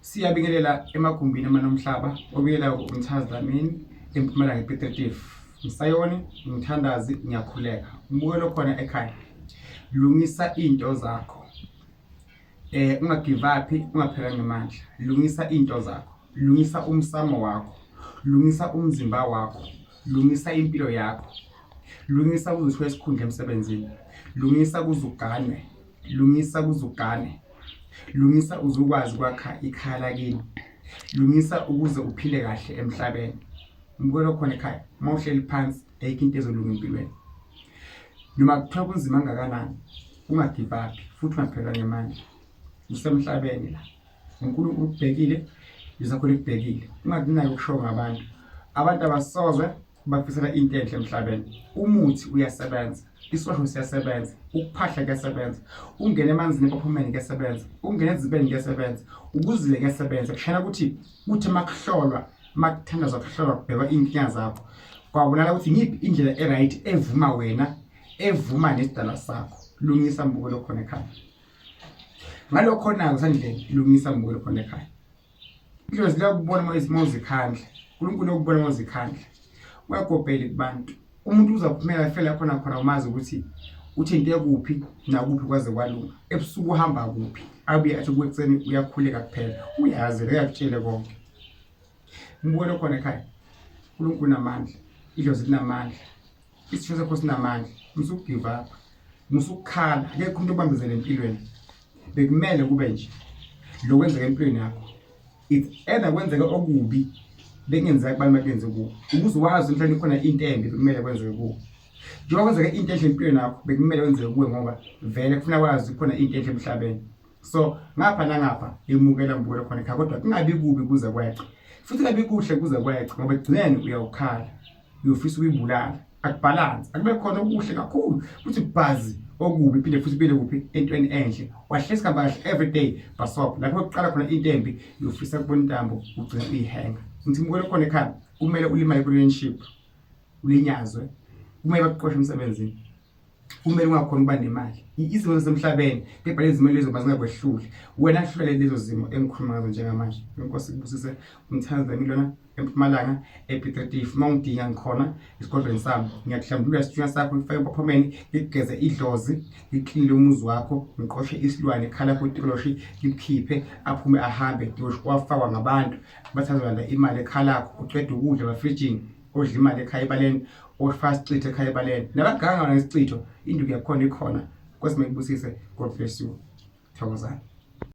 Siyabingelela emagumbini amanomhlaba obiyela umthazi Dlamini empumalanga ePetretief. Msayoni, ngithandazi, ngiyakhuleka. Umbukelo khona ekhaya. Lungisa into zakho. Eh ungagive up, ungaphela ngemandla. Lungisa into zakho. Lungisa umsamo wakho. Lungisa umzimba wakho. Lungisa impilo yakho. Lungisa kuzithiwa esikhundla emsebenzini. Lungisa kuzuganwe. Lungisa ukuze ugane. Lungisa uze ukwazi ukwakha ikhaya lakini. Lungisa ukuze uphile kahle emhlabeni. Ngibukela okhona ekhaya uma uhleli phansi ayikho into ezolunga empilweni. Noma kuthiwa kunzima kangakanani ungagive up futhi ungaphelelwa ngemali. Usemhlabeni la. UNkulunkulu ukubhekile, uZakho likubhekile. Ungakunaki okushiwo ngabantu. Abantu abasozwe bakufisela into enhle emhlabeni umuthi uyasebenza isiwasho siyasebenza ukuphahla kuyasebenza ungena emanzini ebaphumeni kuyasebenza ungena ezibeni kuyasebenza ukuzile kuyasebenza kushayela ukuthi kuthi uma kuhlolwa uma kuthandazwa kuhlolwa kubhekwa iy'nkinga zakho kwabonala ukuthi ngiphi indlela e-right evuma wena evuma nesidala sakho lungisa mbukelo khona ekhaya ngalokho nayo kusandleni lungisa mbukelo khona ekhaya Idlozi liyakubona uma izimo zikhandla. uNkulunkulu uyakubona uma uzikhandla. Uyagobhela kubantu. Umuntu uzaphumela afela khona khona umazi ukuthi uthinte kuphi nakuphi kwaze kwalunga. Ebusuku uhamba kuphi? Abuye athi kwekuseni uyakhuleka kuphela. Uyazi uyakutshele konke. Ngibone khona ekhaya. uNkulunkulu unamandla. Idlozi linamandla. isitho sakho sinamandla musukugive up musukukhala akekho umuntu obambezele empilweni bekumele kube nje lo kwenzeka empilweni yakho it's either kwenzeka okubi bengenzeka kubantu bakenze kuwo ukuze wazi emhlabeni khona into embi bekumele kwenzeke kuwo njengoba kwenzeka into enhle empilweni yakho bekumele kwenzeke kuwe ngoba vele kufuna wazi khona into enhle emhlabeni so ngapha nangapha imukela ngibukela khona ekhaya kodwa kungabi kubi kuze kweqe futhi kungabi kuhle kuze kweqe ngoba ekugcineni uyawukhala uyofisa ukuyibulala akubhalansi akube khona okuhle kakhulu futhi bhazi okubi phinde futhi bile kuphi entweni enhle wahlesi kamba kahle every day basop lapho kuqala khona into embi uyofisa kubona intambo ugcina uyihenga ngithi mukele khona ekhaya kumele ulimale kwi-relationship ulinyazwe kumele bakuqoshe emsebenzini kumele ungakhona ukuba nemali izimo zasemhlabeni kepha lezi zimo lezo bazingakwehluli wena hlulele lezo zimo engikhuluma ngazo njengamanje inkosi kubusise umthandaza yami lona empumalanga epitretifu uma ungidinga ngikhona esigodlweni sami ngiyakuhlambulula isithunywa sakho ngifake empaphomeni ngikugeze idlozi ngiklinile umuzi wakho ngiqoshe isilwane khala kutoloshi ngikukhiphe aphume ahambe ngiwafakwa ngabantu bathazelanda imali ekhalakho uceda ukudla bafrijini udla imali ekhaya ebaleni ofaka isicitho ekhaya ebaleni nabaganga wona isicitho induku yakhona ikhona kwesime kubusise god bless you thokozani